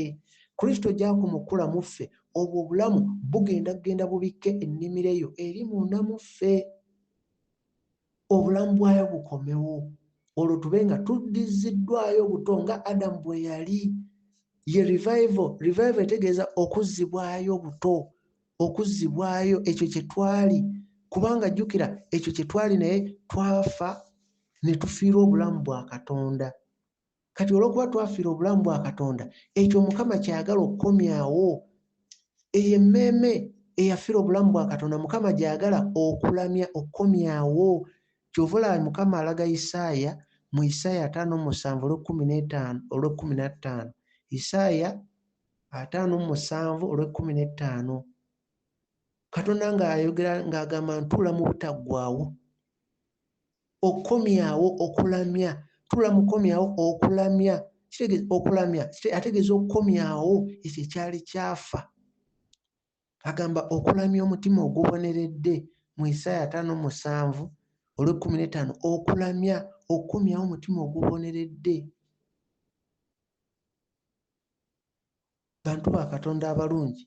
kristo gyakumukula mu ffe obwo obulamu bugenda kugenda bubikke ennimiro eyo eri munda mu ffe obulamu bwayo bukomewo olwo tube nga tuddiziddwayo obuto nga adamu bwe yali ye revival revival etegeeza okuzzibwayo obuto okuzzibwayo ekyo kye twali kubanga jjukira ekyo kye twali naye twafa ne tufiira obulamu bwa katonda kati olwokuba twafiira obulamu bwa katonda ekyo mukama kyayagala okukomyawo eyo emmeeme eyafiira obulamu bwa katonda mukama gyayagala okulamya okukomyawo kyova olaba mukama alaga isaaya mu isaaya ataano musanvu olwekumi netaano olwekumi nattaano isaaya ataano mu musanvu olw'ekkumi n'ettaano katonda ng'ayogera ng'agamba ntuula mu butaggwawo okukomyawo okulamya tuula mukomyawo okulamya okulamya ategeeza okukomyawo ekyo ekyali kyafa agamba okulamya omutima oguboneredde mu isaaya ataano musanvu olw'ekkumi n'ettaano okulamya okukumyawo omutima oguboneredde bantu ba katonda abalungi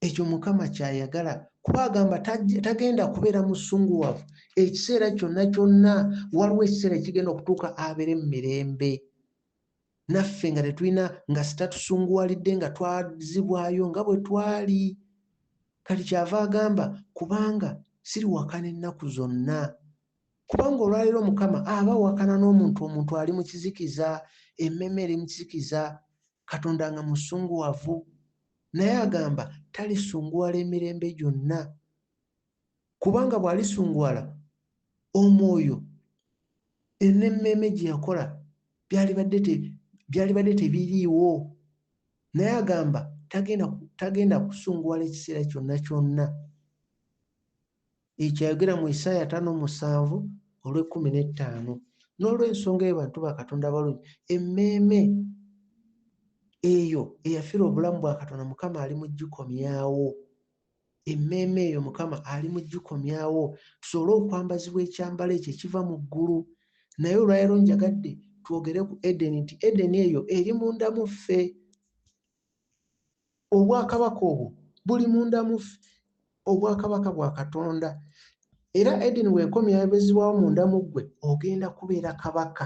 ekyo mukama kyayagala kuba agamba tagenda kubeera musunguwavu ekiseera kyonna kyonna waliwo ekiseera ekigenda okutuuka abeere mu mirembe naffe nga tetulina nga sitatusunguwalidde nga twazibwayo nga bwe twali kati kyava agamba kubanga siriwakana ennaku zonna kubanga olwaleero mukama aba wakana n'omuntu omuntu ali mu kizikiza emmeme eri mu kizikiza katonda nga musunguwavu naye agamba talisunguwala emirembe gyonna kubanga bw'alisungwala omwoyo n'emmeeme gye yakola byalibadde tebiriiwo naye agamba tagenda tagenda kusunguwala ekiseera kyonna kyonna ekyo ayogera mu isaaya ataano musanvu olw'ekkumi n'ettaano n'olw'ensonga eyo bantu ba katonda abalungi emmeeme eyo eyafira obulamu bwa katonda mukama ali mu gikomyawo emmeeme eyo mukama ali mu gikomyawo tusobole okwambazibwa ekyambalo ekyo ekiva mu ggulu naye olwaleero njagadde twogere ku edeni nti edeni eyo eri munda mu ffe obwakabaka obwo buli munda mu ffe obwakabaka bwa katonda era edeni weekomyabezibwawo munda mu ggwe ogenda kubeera kabaka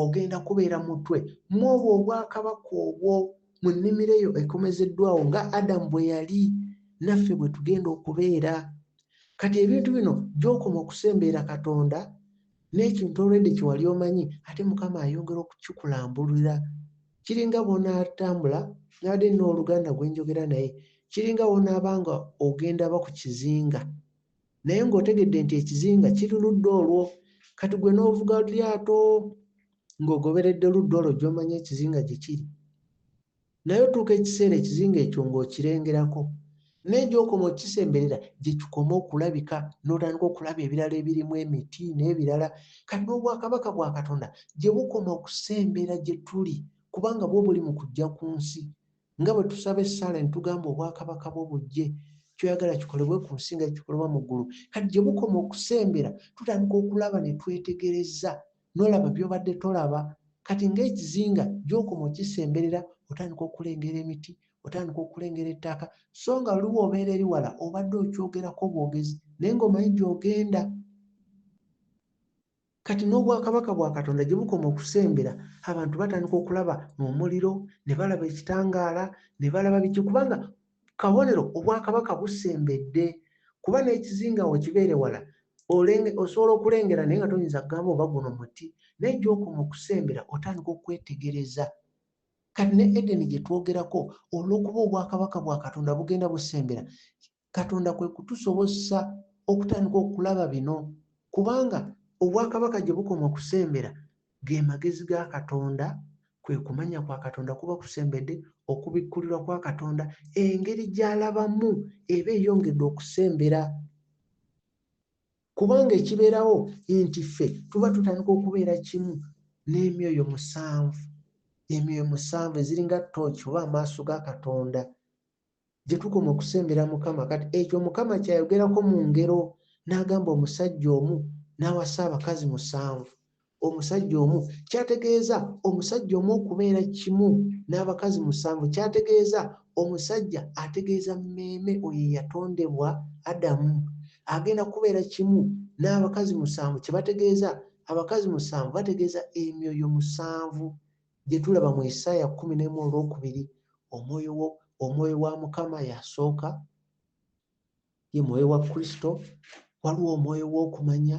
ogenda kubeera mutwe mwobwo obwakabaka obwo mu nnimiro eyo ekomezeddwawo nga adamu bwe yali naffe bwe tugenda okubeera kati ebintu bino gyokoma okusembeera katonda n'ekintu olwedde kyewali omanyi ate mukama ayongera okukikulambulira kiringa bwonaatambula nabadde nina oluganda gwenjogera naye kiringa wonaaba nga ogenda ba ku kizinga naye ng'otegedde nti ekizinga kiri ludda olwo kati gwe n'ovuga lyato ng'ogoberedde ludda olwo gy'omanyi ekizinga gye kiri naye otuuka ekiseera ekizinga ekyo ng'okirengerako naye gy'okoma okisemberera gye kikoma okulabika n'otandika okulaba ebirala ebirimu emiti n'ebirala kati n'obwakabaka bwa katonda gye bukoma okusembera gye tuli kubanga bwo buli mu kujja ku nsi nga bwe tusaba essaala ne tugamba obwakabaka bwo bujje kyoyagala kikolebwe ku nsi nga kikolebwa mu ggulu kati gye bukoma okusembera tutandika okulaba ne twetegereza n'olaba by'obadde tolaba kati ng'ekizinga gy'okoma okisemberera otandika okulengera emiti otandika okulengera ettaka so nga luwa obeera eri wala obadde okyogerako bwogezi naye ng'omanyi gy'ogenda Kati n'obwakabaka bwa Katonda gye bukoma okusembera, abantu batandika okulaba omuliro, ne balaba ekitangaala, ne balaba biki, kubanga kabonero obwakabaka busembedde. Kuba n'ekizinga awo kibeere wala, osobola okulengera naye nga toyinza kugamba oba guno muti. Naye gy'okoma okusembera otandika okwetegereza. Kati ne Edeni gye twogerako, olw'okuba obwakabaka bwa Katonda bugenda busembera, Katonda kwe kutusobozesa okutandika okulaba bino, kubanga obwakabaka gye bukoma okusembera, ge magezi ga Katonda, kwe kumanya kwa Katonda kuba kusembedde, okubikkulirwa kwa Katonda, engeri gy'alabamu eba eyongedde okusembera. Kubanga ekibeerawo nti ffe tuba tutandika okubeera kimu n'emyoyo musanvu, emyoyo musanvu eziringa tooki oba amaaso ga Katonda, gye tukoma okusembera Mukama. Kati ekyo Mukama kyayogerako mu ngero n'agamba omusajja omu n'awasa abakazi musanvu. Omusajja omu kyategeeza omusajja omu okubeera kimu n'abakazi musanvu kyategeeza omusajja ategeeza mmeeme oyo eyatondebwa Adamu agenda kubeera kimu n'abakazi musanvu kye bategeeza abakazi musanvu bategeeza emyoyo musanvu Gye tulaba mu Isaaya kkumi n'emu olw'okubiri, omwoyo omwoyo wa Mukama y'asooka, ye mwoyo wa Kristo. Waliwo omwoyo w'okumanya,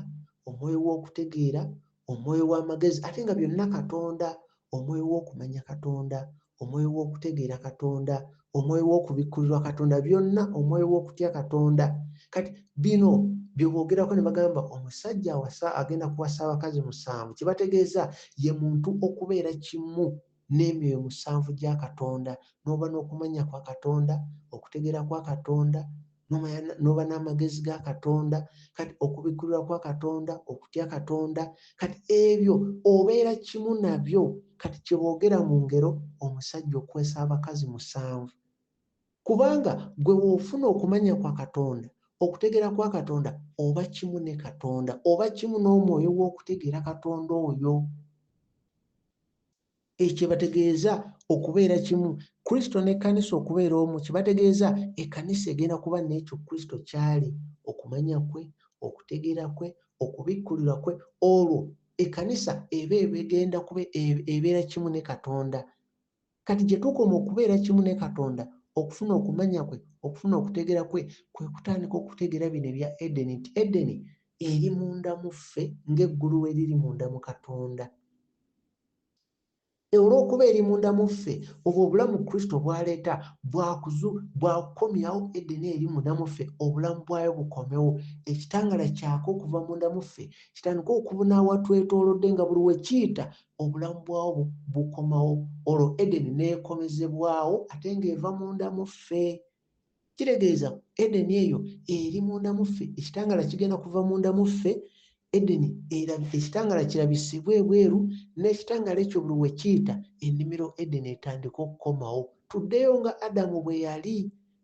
omwoyo w'okutegeera, omwoyo w'amagezi, ate nga byonna Katonda, omwoyo w'okumanya Katonda, omwoyo w'okutegeera Katonda, omwoyo w'okubikkulirwa katonda byonna omwoyo w'okutya katonda kati bino byeboogerako ne bagamba omusajja awasa agenda kuwasa abakazi musanvu kye bategeeza ye muntu okubeera kimu n'emyoyo musanvu gya katonda n'oba n'okumanya kwa katonda okutegeera kwa katonda noba n'amagezi ga katonda kati okubikkulirwa kwa katonda okutya katonda kati ebyo obeera kimu nabyo kati kyeboogera mu ngero omusajja okukwesa abakazi musanvu kubanga gwe woofuna okumanya kwa katonda okutegeera kwa katonda oba kimu ne katonda oba kimu n'omwoyo w'okutegeera katonda oyo Ekyo kyebategeeza okubeera kimu, Kristo n'ekkanisa okubeera omu kyebategeeza ekkanisa egenda kuba n'ekyo Kristo ky'ali, okumanya kwe, okutegeera kwe, okubikkulirwa kwe, olwo ekkanisa eba ebegenda kuba ebeera kimu ne Katonda. Kati gye tukoma okubeera kimu ne Katonda, okufuna okumanya kwe, okufuna okutegeera kwe, kwe kutandika okutegeera bino ebya Edeni nti Edeni eri munda mu ffe ng'eggulu bwe liri munda mu Katonda. E olw'okuba eri munda mu ffe, obwo obulamu Kristo bw'aleeta bwa kuzu, bwa kukomyawo Edeni eri munda mu ffe, obulamu bwayo bukomewo. Ekitangala kyaka okuva munda mu ffe, kitandike okubuna awatwetoolodde, nga buli we kiyita, obulamu bwawo bu, bukomawo. Olwo Edeni n'ekomezebwawo, ate nga eva munda mu ffe. Kitegeeza Edeni eyo eri munda mu ffe, ekitangaala kigenda kuva munda mu ffe, Edeni erabi, ekitangaala kirabisibwe ebweru, n'ekitangaala ekyo buli we kiyita, ennimiro Edeni etandika okukomawo. Tuddeyo nga Adamu bwe yali,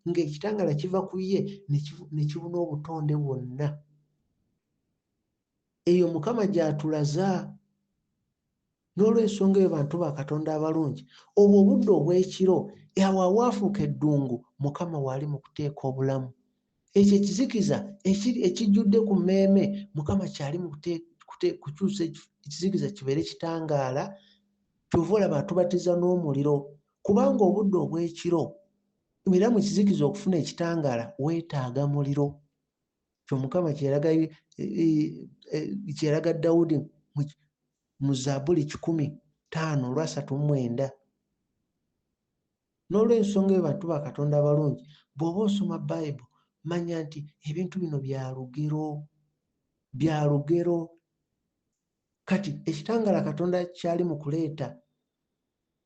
nga ekitangaala kiva ku ye ne kibuna obutonde bwonna. eyo mukama gyatulaza n'olwensonga eyo bantu ba katonda abalungi obwo obudde obw'ekiro awo awaafuuka eddungu mukama waali mu kuteeka obulamu ekyo ekizikiza ekijjudde ku mmeeme mukama kyali mu kukyusa ekizikiza kibeere kitangaala kyova olaba atubatiza n'omuliro kubanga obudde obw'ekiro era mu kizikiza okufuna ekitangaala weetaaga muliro kyomukama kyeyalaga e, e, e, dawudi mu zabuli kikumi taano olwasatu mumwenda n'olwensonga eyo bantu ba katonda abalungi bw'oba osoma bayibu manya nti ebintu bino bya lugero bya lugero kati ekitangala katonda kyali mu kuleeta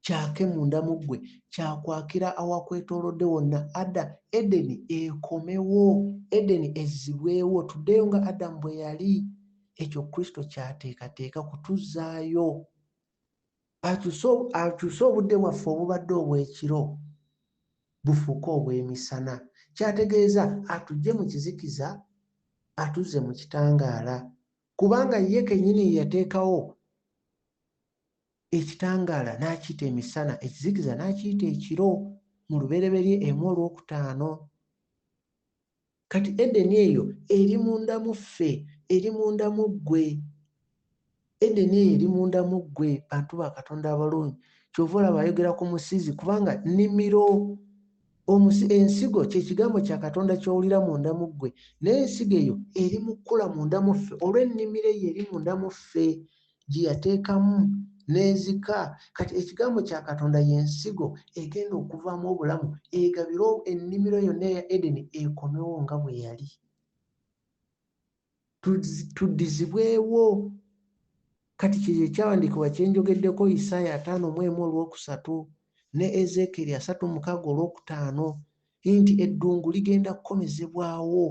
kyake munda mu ggwe, kya kwakira awakwetoolodde wonna, Ada, Edeni ekomewo, Edeni ezzibwewo, tuddeyo nga Adamu bwe yali. Ekyo Kristo ky'ateekateeka kutuzzaayo. Akyuse, akyuse obudde bwaffe obubadde obw'ekiro bufuuke obw'emisana. Ky'ategeeza, atuggye mu kizikiza atuzze mu kitangaala, kubanga ye kennyini ye yateekawo ekitangaala n'akiyita emisana ekizikiza n'akiyita ekiro mu lubereberye emu olwokutaano kati edeni eyo eri munda mu ffe eri munda mu ggwe edeni eyo eri munda mu ggwe bantu ba katonda abalungi kyova olaba ayogera ku musizi kubanga nimiro ensigo kyekigambo kya katonda kyowulira munda mu ggwe naye ensigo eyo eri mu kkula munda mu ffe olw'ennimiro eyo eri munda mu ffe gye yateekamu n'ezika kati ekigambo kya katonda y'ensigo egenda okuvaamu obulamu egabire ennimiro yonna eya edeni ekomewo nga bwe yali tuddizibwewo kati kyeyo ekyawandiikibwa kyenjogeddeko isaaya ataano mu emu olwokusatu ne ezeekeeri asatu mukaaga olwokutaano nti eddungu ligenda kukomezebwawo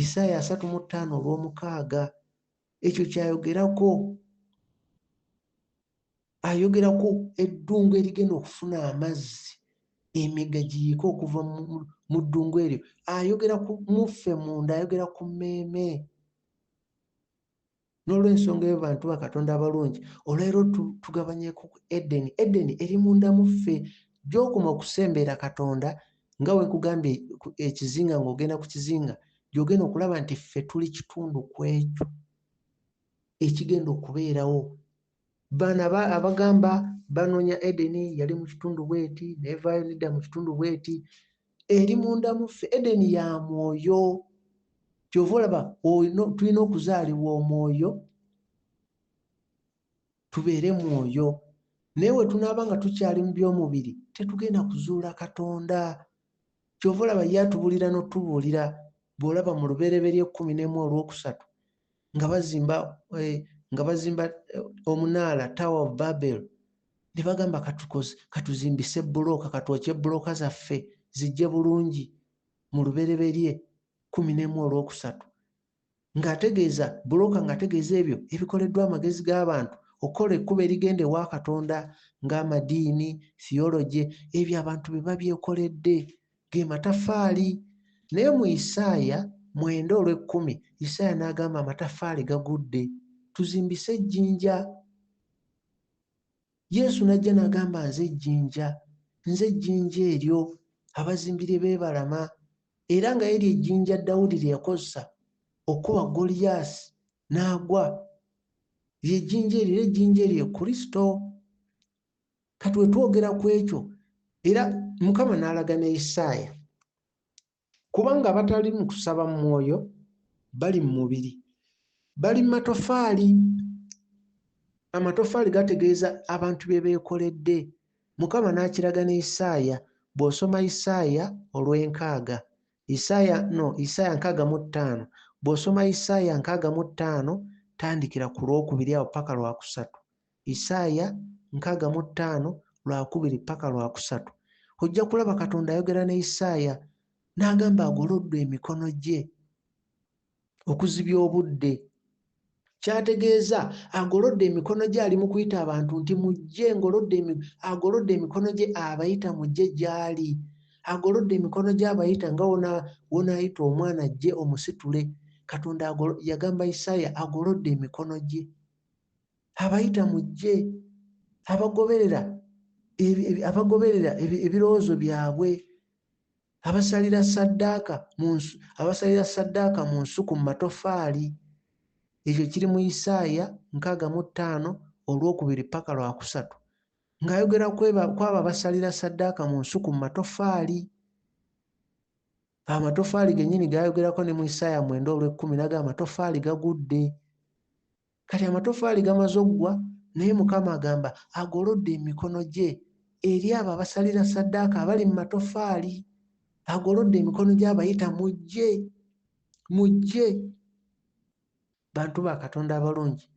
isaaya asatu mu ttaano olwomukaaga ekyo kyayogerako ayogerako eddungu erigenda okufuna amazzi emigga giyiike okuva mu ddungu eryo ayogera ku muffe munda ayogera ku mmeeme n'olwensonga eyo bantu ba katonda abalungi olwero tugabanyeku edeni edeni eri munda muffe gyokoma okusembeera katonda nga wekugambye ekizinga ng'ogenda ku kizinga gyogenda okulaba nti ffe tuli kitundu ku ekyo ekigenda okubeerawo bana abagamba banoonya edeni yali mu kitundu bweti nevayo nedda mu kitundu bweti eri munda muffe edeni ya mwoyo kyova olaba tulina okuzaalibwa omwoyo tubeere mwoyo naye we tunaaba nga tukyali mu by'omubiri tetugenda kuzuula katonda kyova olaba ye atubuulira n'otubuulira bw'olaba mu lubereberye ekkumi n'emu olwokusatu nga bazimba eh, nga bazimba eh, omunaala tower of babel ne bagamba katuzimbise bbulooka katwokye bbulooka zaffe zijje bulungi mu lubereberye kumi n'emu olwokusatu ng'ategeeza bulooka ng'ategeeza ebyo ebikoleddwa amagezi g'abantu okukola ekkubo erigenda ewa Katonda ng'amadiini, theology, ebyo abantu be babyekoledde, ge mataffaali. Naye mu Isaaya mwenda olw'ekkumi, Isaaya n'agamba, Amataffaali gagudde. Tuzimbise ejjinja. Yesu n'ajja n'agamba, Nze ejjinja, nze ejjinja eryo abazimbi lye beebalama, era nga eryo ejjinja Dawudi lye yakozesa okukuba Goliyaasi n'agwa. Lye jjinja eryo, era ejjinja eryo ye Kristo. Kati we twogera ku ekyo, era Mukama n'alaga ne Isaaya Kubanga abatali mu kusaba mu mwoyo bali mu mubiri, bali mu matofaali. Amatofaali gategeeza abantu bye beekoledde. Mukama n'akiraga ne Isaaya. Bw'osoma Isaaya olw'enkaaga, Isaaya no Isaaya nkaaga mu ttaano, bw'osoma Isaaya nkaaga mu ttaano tandikira ku lwokubiri awo paka lwakusatu, Isaaya nkaaga mu ttaano, Lwakubiri ppaka Lwakusatu, ojja kulaba Katonda ayogera ne Isaaya n'agamba agolodde emikono gye okuzibya obudde. Ky'ategeeza, agolodde emikono gye ali mu kuyita abantu nti, Mujje, ngolodde emi-, agolodde emikono gye abayita mujje gy'ali. Agolodde emikono gye abayita nga wona, wonaayita omwana ajje omusitule. Katonda agolo, yagamba Isaaya agolodde emikono gye. abayita mu ggye abagoberera abagoberera ebirowoozo byabwe abasalira saddaaka abasalira saddaaka mu nsuku mu matofaali ekyo kiri mu isaaya nkaaga mu ttaano olwokubiri paka lwakusatu ng'ayogera kwabo abasalira saddaaka mu nsuku mu matofaali amatofaali gennyini gayogerako ne mu isaaya mwenda olwekkumi naga amatofaali gagudde Kati amatofaali gamaze okugwa, naye Mukama agamba agolodde emikono gye eri abo abasalira ssaddaaka abali mu matofaali. Agolodde emikono gye abayita, mujje, mujje. Bantu ba Katonda abalungi,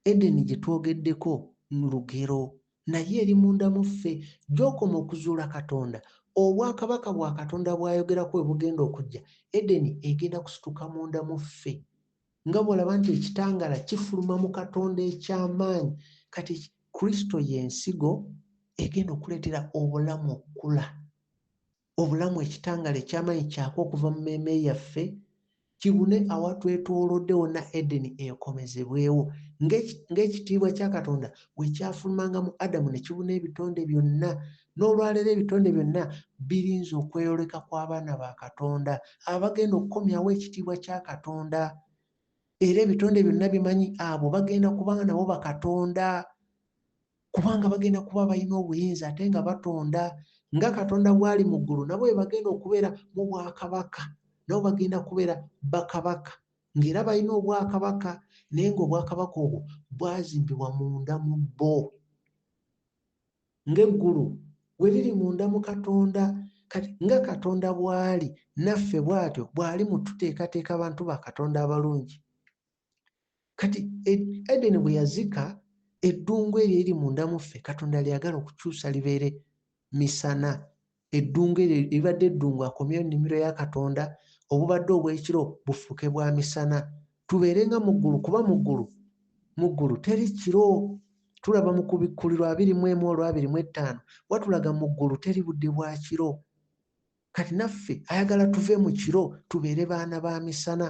Edeni gye twogeddeko lugero, naye eri munda mu ffe. Gy'okoma okuzuula Katonda, Obwakabaka bwa Katonda bw'ayogerako we bugenda okujja, Edeni egenda kusituka munda mu ffe. Nga bw'olaba nti ekitangaala kifuluma mu Katonda eky'amaanyi, kati Kristo ye Nsigo egenda okuleetera Obulamu okukula. Obulamu, ekitangaala eky'amaanyi, kyaka okuva mu mmeeme yaffe, kibune awatwetooloodde wonna Edeni ekomezebwewo, nga, nga ekitiibwa kya Katonda bwe kyafulumanga mu Adamu ne kibuna ebitonde byonna N'olwaleero ebitonde byonna birinze okweyoleka kw'abaana ba Katonda abagenda okukomyawo ekitiibwa kya Katonda. Era ebitonde byonna bimanyi abo bagenda kuba nga nabo bakatonda, kubanga bagenda kuba balina obuyinza ate nga batonda. Nga Katonda bw'ali mu ggulu, nabo be bagenda okubeera mu bwakabaka. Nabo bagenda kubeera bakabaka, ng'era balina obwakabaka, naye ng'obwakabaka obwo bwazimbibwa munda mu bo. ng'eggulu bwe liri munda mu Katonda. Kati nga Katonda bw'ali, naffe bw'atyo bw'ali mu tuteekateeka abantu ba Katonda abalungi. Kati e, Edeni bwe yazika eddungu eryo eri munda mu ffe, Katonda lyagala okukyusa libeere misana eddungu eryo eribadde eddungu akomyeyo nnimiro ya katonda obubadde obw'ekiro bufuuke bwa misana tubeere nga mu ggulu kuba mu ggulu mu ggulu teri kiro tulaba mu kubikkulirwa abiri mu emu olwabiri mu ettaano watulaga mu ggulu teri budde bwa kiro kati naffe ayagala tuve mu kiro tubeere baana ba misana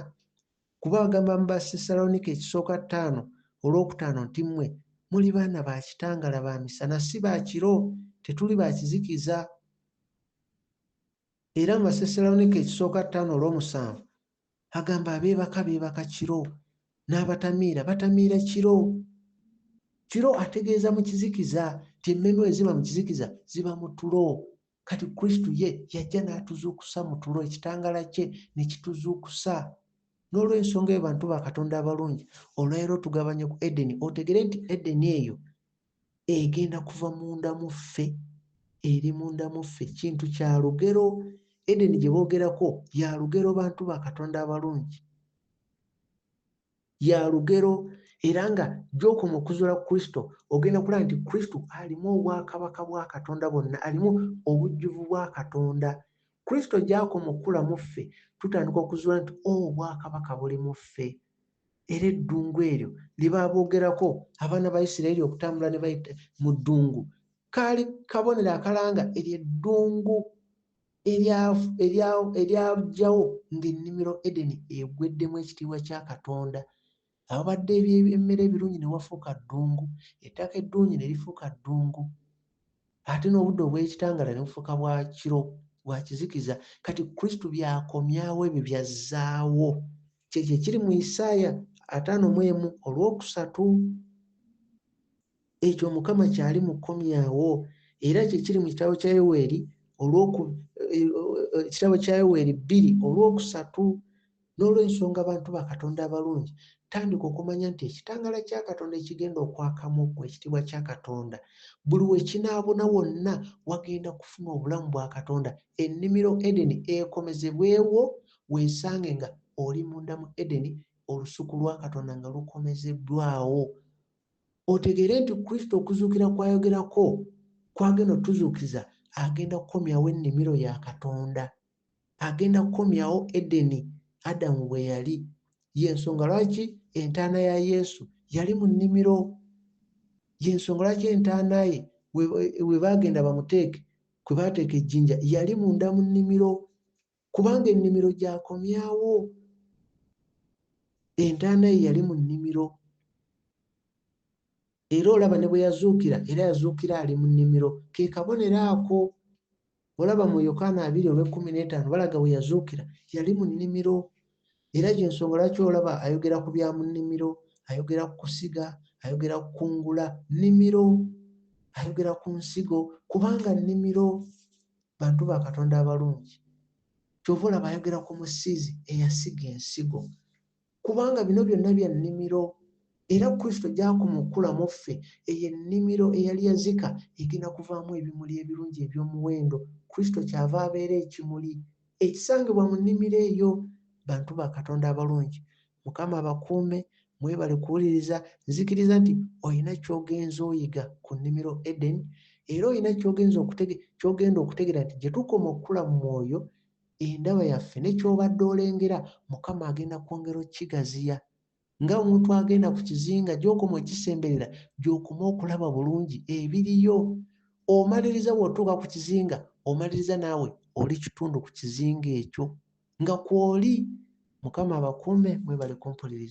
Kuba agamba mu Bassessaloniika ekisooka ttaano olw'okutaano nti mmwe muli baana ba kitangala ba misana si ba kiro, tetuli ba kizikiza. Era mu Bassessaloniika ekisooka ttaano olw'omusanvu agamba abeebaka beebaka kiro, n'abatamiira batamiira kiro. Kiro ategeeza mu kizikiza nti emmeeme bwe ziba mu kizikiza ziba mu tulo kati kristo ye yajja n'atuzuukusa mu tulo ekitangaala kye ne kituzuukusa n'olw'ensonga eyo bantu ba katonda abalungi olwaleero tugabanye ku edeni otegere nti edeni eyo egenda kuva munda mu ffe eri munda mu ffe kintu kya lugero edeni gye boogerako ya lugero bantu ba katonda abalungi ya lugero era nga gy'okoma okuzuula ku Kristo ogenda kulaba nti Kristo alimu obwakabaka bwa Katonda bwonna, alimu obujjuvu bwa Katonda. Kristo gy'akoma okukula mu ffe tutandika okuzuula nti o oh, obwakabaka buli mu ffe. Era eddungu eryo lye baabogerako abaana ba Isirayiri okutambula ne bayita mu ddungu, kaali kabonero akalanga eryo eddungu eryajjawo ng'ennimiro Edeni egweddemu ekitiibwa kya Katonda. Awabadde eby'emmere ebirungi ne wafuuka ddungu, ettaka eddungi ne lifuuka ddungu, ate n'obudde obw'ekitangaala ne bufuuka bwa kiro, bwa kizikiza. Kati Kristo by'akomyawo ebyo by'azzaawo. Ky'ekyo ekiri mu Isaaya ataano mu emu olw'okusatu. Ekyo Mukama kyali mu kkomyawo, era kye kiri mu kitabo kya Yoweeri olw'oku eh, eh, kitabo kya Yoweeri bbiri olw'okusatu. N'olw'ensonga abantu ba Katonda abalungi, tandika okumanya nti ekitangaala kya Katonda ekigenda okwakamu okuwa ekitiibwa kya Katonda, buli we kinaabuna wonna wagenda kufuna obulamu bwa Katonda. Ennimiro Edeni ekomezebwewo, weesange nga oli munda mu Edeni, olusuku lwa Katonda nga lukomezebbwawo. otegeere nti Kristo okuzuukira kw'ayogerako kw'agenda otuzuukiza agenda kukomyawo ennimiro ya Katonda. Agenda kukomyawo Edeni Adamu bwe yali. Y'ensonga lwaki entaana ya Yesu yali mu nnimiro. Y'ensonga lwaki entaana ye we baagenda bamuteeke kwe baateeka ejjinja yali munda mu nnimiro. Kubanga ennimiro gyakomyawo. Entaana ye yali mu nnimiro. Era olaba ne bwe yazuukira, era yazuukira ali mu nnimiro. Ke kabonero ako. Olaba mu Yokaana abiri olw'ekkumi n'etaano balaga we yazuukira. Yali mu nnimiro. Era y'ensonga lwaki olaba ayogera ku bya mu nnimiro, ayogera ku kusiga, ayogera ku kungula. Nnimiro. Ayogera ku nsigo, kubanga nnimiro. Bantu ba Katonda abalungi, kyova olaba ayogera ku musizi eyasiga ensigo, kubanga bino byonna bya nnimiro, era Kristo gy'akoma okukula mu ffe, eyo ennimiro eyali yazika egenda kuvaamu ebimuli ebirungi eby'omuwendo. Kristo ky'ava abeera ekimuli ekisangibwa mu nnimiro eyo, bantu ba Katonda abalungi. mukama abakuume mwebale kuwuliriza nzikiriza nti olina kyogenza oyiga ku nnimiro eden era olina kyogenda okutegera nti gyetukoma okukula mu mwoyo endaba yaffe nekyobadde olengera mukama agenda kwongera okigaziya nga omuntu agenda ku kizinga gyokoma okisemberera gyokoma okulaba bulungi ebiriyo omaliriza wotuuka ku kizinga omaliriza naawe oli kitundu ku kizinga ekyo nga kwoli mukama abakuume mwebale kumpuliriza